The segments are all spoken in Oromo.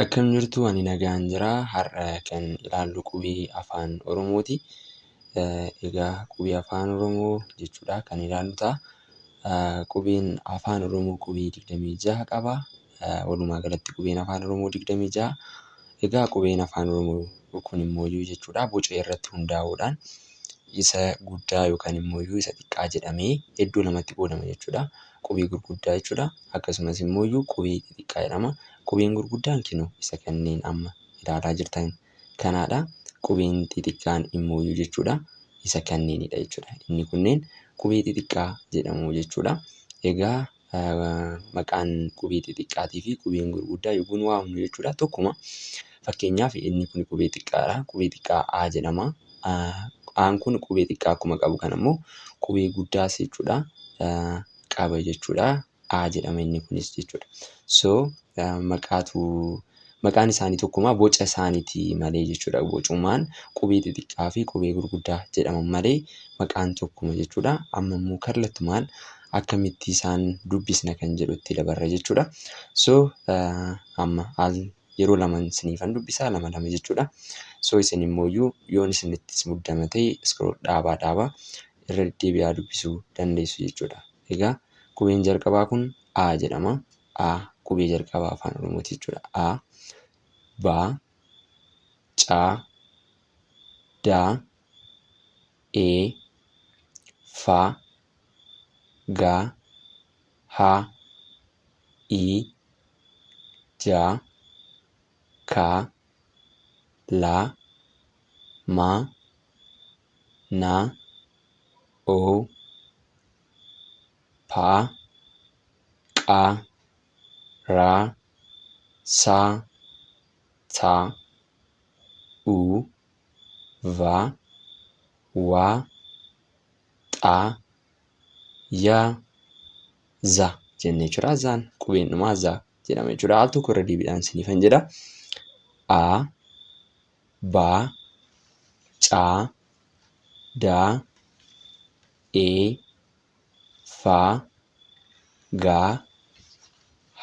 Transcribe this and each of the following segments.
Akkam jirtu ani nagaan jira har'a kan ilaallu qubee afaan oromooti egaa qubee afaan oromoo jechuudha kan ilaallu ta'a qubeen afaan oromoo qubee digdamii jaha qaba walumaa galatti qubeen afaan oromoo digdamii jaha egaa qubeen afaan oromoo kun immoo jechuudha boca irratti hundaa'uudhaan isa guddaa yookaan immoo isa xiqqaa jedhamee iddoo lamatti qoodama jechuudha. qubee gurguddaa jechuu dha. Akkasumas immoo iyyuu qubee xixiqqaa jedhama. Qubeen gurguddaan kinu isa kanneen amma ilaalaa jirtan kanaa dha. Qubeen xixiqqaan immoo iyyuu jechuu dha isa kanneenii dha jechuu dha. Inni kunneen qubee xixiqqaa jedhamu jechuu dha. Egaa maqaan qubee xixiqqaatii fi qubeen gurguddaa yogguu nu waamnu jechuu dha tokkuma. Fakkeenyaaf, inni kun qubee xiqqaadha. Qubee xiqqaa A jedhama. A'n kun qubee xiqqaa akkuma qabu kana immoo qubee guddaas jechuudha qaba jechuudha. A jedhama inni kunis jechuudha. So maqaatu maqaan isaanii tokkuma boca isaaniiti malee jechuudha. Bocumaan qubee xixiqqaa fi qubee gurguddaa jedhaman malee maqaan tokkuma jechuudha. Amma immoo kallattumaan akkamitti isaan dubbisna kan jedhutti dabarra jechuudha. So amma al yeroo laman isiniifan dubbisaa lama lama jechuudha. So isin immooyyuu yoon isinittis muddama ta'e scroll dhaabaa dhaabaa irra deddeebi'aa dubbisuu dandeessu jechuudha. Egaa qubeen jalqabaa kun A jedhama. A qubee jalqabaa afaan Oromooti jechuudha. A ba ca da e fa ga ha i ja ka la ma na o pa qa ra sa ta u va wa ta ya za jenne jechuudha. Zaan qubeen dhumaa za jedhama jechuudha. Al tokko irra deebiidhaan isiniifan jedha. A ba ca da e fa ga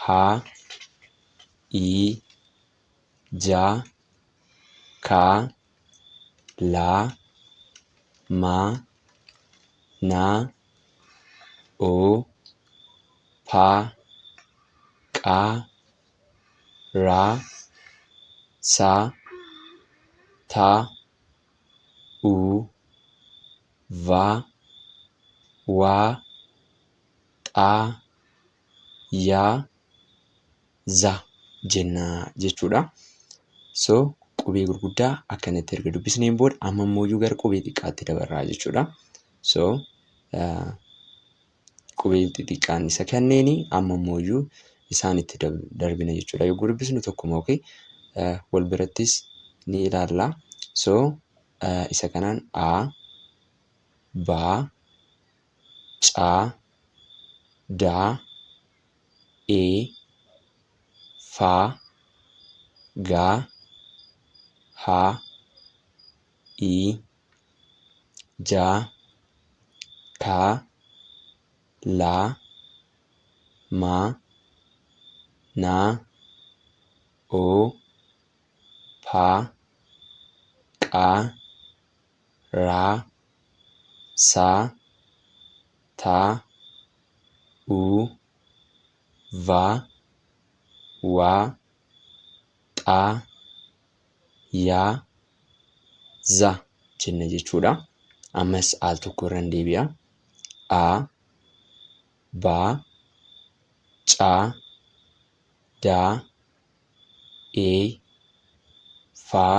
ha i ja ka la ma na o pa qa ra sa ta u va wa ta yaa za jenna jechuudha. So qubee gurguddaa akkanatti erga dubbisneen booda amma immoo iyyuu gara qubee xiqqaatti dabarraa jechuudha. So qubeen xixiqqaan isa kanneeni amma immoo iyyuu isaan itti darbina jechuudha. Yogguu dubbisnu tokkuma okay? wal birattis ni ilaalla. So isa kanaan a, ba, caa daa ee faa gaa haa ii jaa kaa laa maa naa oo paa qaa raa saa taa uu vaa waa xaa yaa za jenna jechuudha. Ammas al tokko irran deebi'a. A baa caa daa ee faa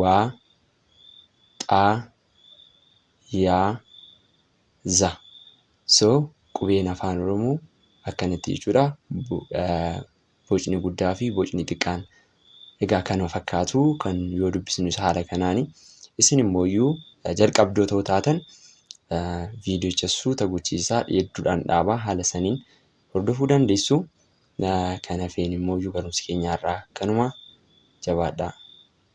Wa, xa, ya, za. So qubeen afaan oromoo akkanatti jechuudha bocni guddaa fi bocni xiqqaan egaa kanuma fakkaatu kan yoo dubbisnus haala kanaani isin immoo iyyuu jalqabdoo ta'uu taatan viidiyocha suuta gochiisaa hedduudhaan dhaabaa haala saniin hordofuu dandeessu kan hafeen immoo iyyuu barumsi keenya irraa kanuma jabaadhaa.